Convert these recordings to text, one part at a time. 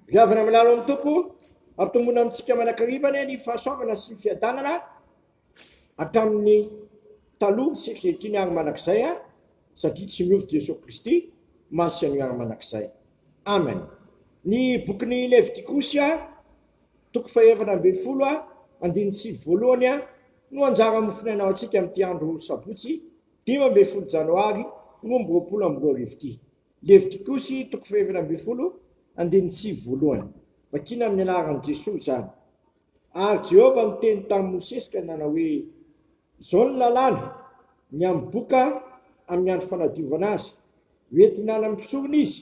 Viavana milalo amin'ny Tompo, ampitomboina amintsika manakariva anie ny fahasoavana sy ny fiadanana hatramin'ny taloha sy ankehitriny ary mandrakizay a satria tsy miova Jesoa Kristy, maha sy anio ary mandrakizay. Amen. Ny bokin'i Levitikosy a, toko fahaefatra ambin'ny folo a, andininy sivy voalohany a, no anjara mofon'aina ho antsika amin'ity andro sabotsy dimy ambin'ny folo janoary roa amby roapolo amby roa arivo ity. Levitikosy toko fahaefatra ambin'ny folo, andininy sivy voalohany. Vakina amin'ny anaran'i Jesoa izany. Ary Jehovah niteny tamin'i Mosesy ka nanao hoe, Izao ny lalàna, ny hamboka amin'ny andro fanadiovana azy, hoentina any amin'ny mpisorona izy,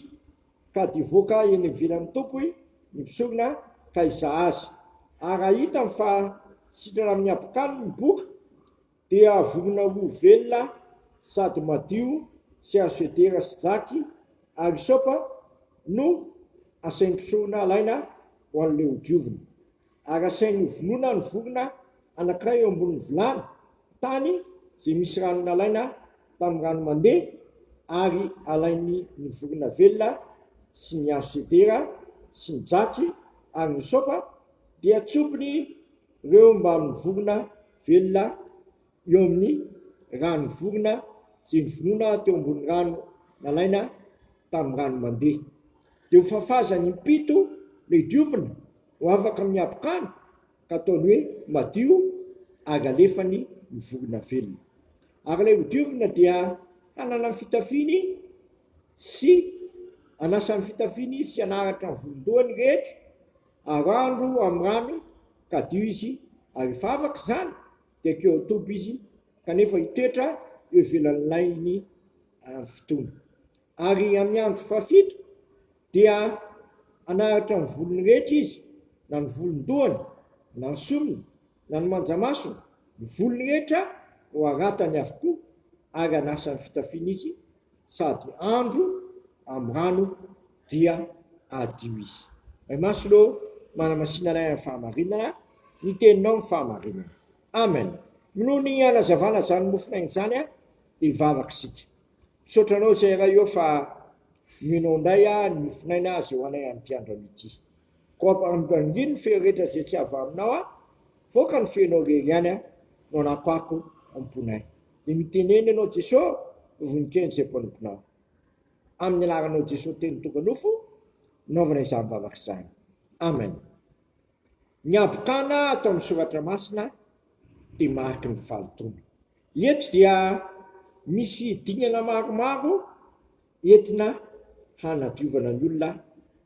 ka dia hivoaka eny ivelan'ny Tompo ny mpisorona ka hizaha azy. Ary raha hitany fa sitrana amin'ny habokaniny ny boka, Dia vonona ho velona sady madio sy azo federa sy jaky ary hisoapa no asain'ny mpisorona alaina ho an'ilay hodiovina. Ary asainy hovonoina ny vorona anankiray eo ambonin'ny vilany tany izay misy rano nalaina tamin'ny rano mandeha ary alainy ny vorona velona sy ny azo federa sy ny jaky ary ny hisoapa dia tsopiny ireo mbamin'ny vorona Velona eo amin'ny rano vorona sy ny vonoina teo ambony rano nalaina tamin'ny rano mandeha. Dia ho fafazany impito ilay diovina ho afaka amin'ny habokana ka ataony hoe madio ary alefany ny vorona velona. Ary ilay ho diovina dia hanana ny fitafiany sy hanasa ny fitafiany sy hanaratra ny volon-dohany rehetra Arandro amin'ny rano kadio izy ary rehefa afaka izany dia keo amin'ny toby izy kanefa hitoetra eo ivelan'ny lainy amin'ny fotoana. Ary amin'ny andro fahafito dia hanaratra ny volony rehetra izy, na ny volon-dohany, na ny sorony, na ny manjamasony, ny volony rehetra no haratany avokoa ary hanasa ny fitafiany izy, sady andro am rano dia hadio izy. Ray Masina ô, manamasina anay am fahamarinana, ny teninao no fahamarinana. Amen. Minoa ny hanazavana zany mofonaigny zany a, de hivavaka isika. Misaotra anao zay Ray ô fa mino ndray a ny mofonaina ze ho anay am ty andro am ity. Koa ampanongangino ny feo rehetra izay tsy avy aminao aho, voaka ny feonao irery ihany aho no anakoako am-ponay. Dia mitenena ianao Jesosy no voninkelin'ny izay mpanomponao. Amin'ny anaranao Jesosy teny tonga nofo naovana izany vavaka izany. Amen. Ny habokana ato amin'ny soratra masina dia mariky ny fahalotoana. Eto dia misy dingana maromaro Entina hanadiovana ny olona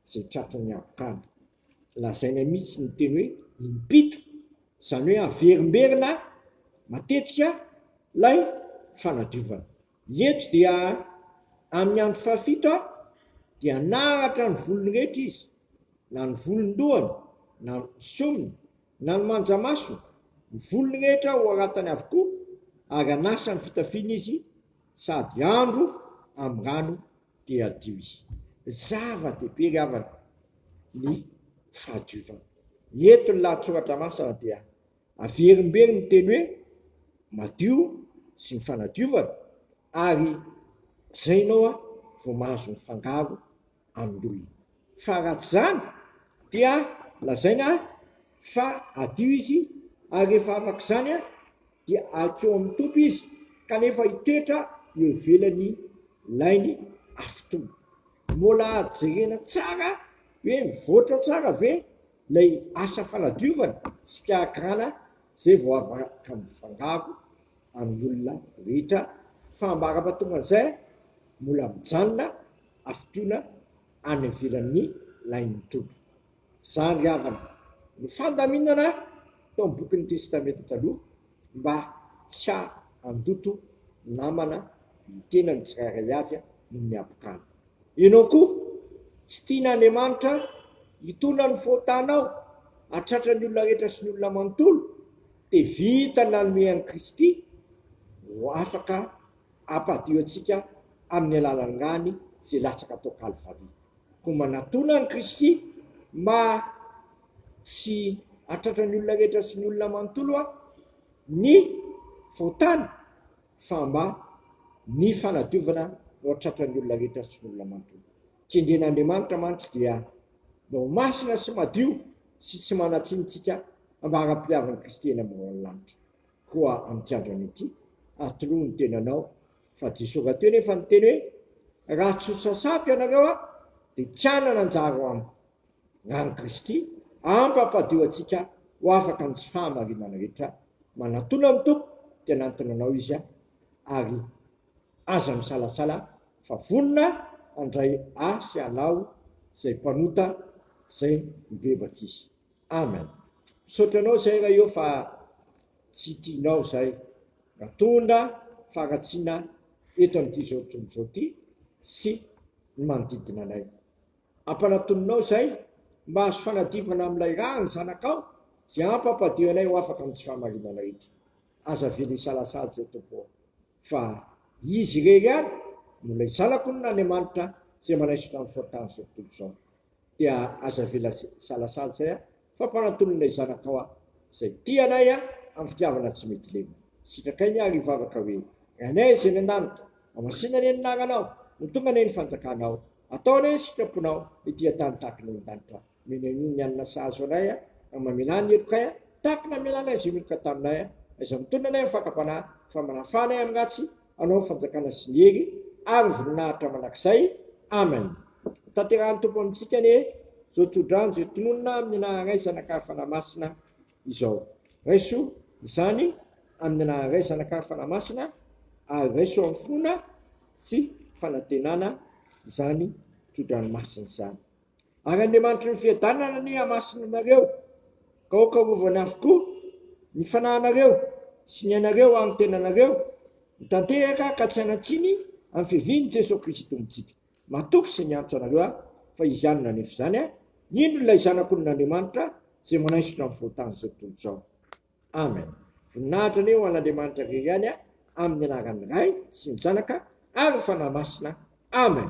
izay tratran'ny habokandy. Lazaina mihitsy ny teny hoe impito, izany hoe averimberina matetika ilay fanadiovana. Eto dia amin'ny andro fahafito dia naratra ny volony rehetra izy, na ny volon-dohany, na ny somony. Na ny manjamaso, ny volony rehetra hoharatany avokoa, ary anasa ny fitafiany izy, sady andro amin'ny rano dia hadio izy. Zava-dehibe ry havana ny fahadiovana. Eto ny lahatsoratra masina dia averimberiny ny teny hoe madio sy ny fanadiovana, ary zainao aho vao mahazo ny fangaro Androy. Fa raha tsy izany dia lazaina fa adio izy ary rehefa afaka izany dia ankeo amin'ny toby izy kanefa hitoetra eo ivelan'ny lainy afitony. Mbola jerena tsara hoe mivoatra tsara ve ilay asa fanadiovana sy fikarakarana izay vao afaka mifangaro amin'ny olona rehetra fa ambara-pahatongan'izay mbola mijanona afotoana any ivelan'ny lain'ny Tompo. Izany ry havana no fandaminana tao amin'ny bokin'ny Testamenta Taloha mba tsy handoto namana ny tenany tsirairay avy noho ny habokana. Ianao koa, tsy tian'Andriamanitra hitolona ny fahotanao hatratra ny olona rehetra sy ny olona manontolo? Dia vita ny nanome an'i Kristy ho afaka ampadio antsika amin'ny alalangany izay latsaka tao Kalvary. Koa manatona an'i Kristy mba tsy hahatratra ny olona rehetra sy ny olona manontolo aho ny fahotana fa mba ny fanadiovana no hahatratra ny olona rehetra sy ny olona manontolo. Kendren'Andriamanitra mantsy dia mba ho masina sy madio sy tsy manan-tsiny isika mba haram-pihavan'i Kristy eny ambony lanitra. Koa amin'ity andronay ity, atoroy ny tenanao, fa Jesoa Rahateo anefa niteny hoe, Raha tsy hosasako ianareo Aho, dia tsy hanana anjara ao Amiko. Ràn'i Kristy ampampadio antsika ho afaka amin'ny tsy fahamarinana rehetra. Manatona ny Tompo, dia hanantona anao Izy a! Ary aza misalasala fa vonona handray ahy sy halaho izay mpanota izay mibebaka Izy. Amen misaotra anao zay ra eo fa tsy tianao zay natondra faharatsiana eto amty zao tontolo zao ty sy ny manodidina anay ampanatoninao zay mba azo fanadiovana amilay raha ny zanakao zay ampampadio anay ho afaka amty fahamarinana eto aza avela hisalasala zay tompo o fa izy irery ihany no lay zanako no Andriamanitra zay manaisotra ny fotany zao tontolo zao dia aza avela salasala zay an! Fampahantonana ilay zanakao an! Zay tia anay an! Am fitiavana tsy mety lena! Sitrakay ny ahy ry vavaka hoe, Ranay izay any an-danitra! Hamasina anie ny naranao! Mitomba anie ny fanjakanao! Atao anie ny sitraponao! Hitia tany tahaka ny any an-danitra! Omena an'iny ny hanina sahazo anay an! Ary mamelà ny helokay an! Tahaka ny namelanay izay meloka taminay an! Aiza mitonona anay am fakam-panahy? Fa manafà anay am ratsy! Anao fanjakana sy ny hery ary voninahitra mandrakizay. Amen. Tanterahan'ny Tompo amintsika anie izao tso-drano izay tononina amin'ny anaharay Zanakary Fanahy Masina izao. Raiso izany amin'ny anaharay Zanakary Fanahy Masina ary raiso amin'ny finoana sy fanantenana izany tso-drano masina izany. Ary Andriamanitry ny fiadanana anie hamasina anareo, ka hokarovany avokoa ny fanahinareo sy ny ainareo ary ny tenanareo, mitantehaka ka tsy hanan-tsiny amin'ny fiavian'i Jesoa Kristy Tompontsika. Matoky sy miantso anareo aho, fa izy ihany no hanefy izany a! Indro ilay Zanak'olona Andriamanitra izay manaisotra ny fahotany izao tontolo izao. Amen. Voninahitra anie ho an'Andriamanitra irery ihany a! Amin'ny anaran'ny Ray sy ny Zanaka ary ny Fanahy Masina. Amen.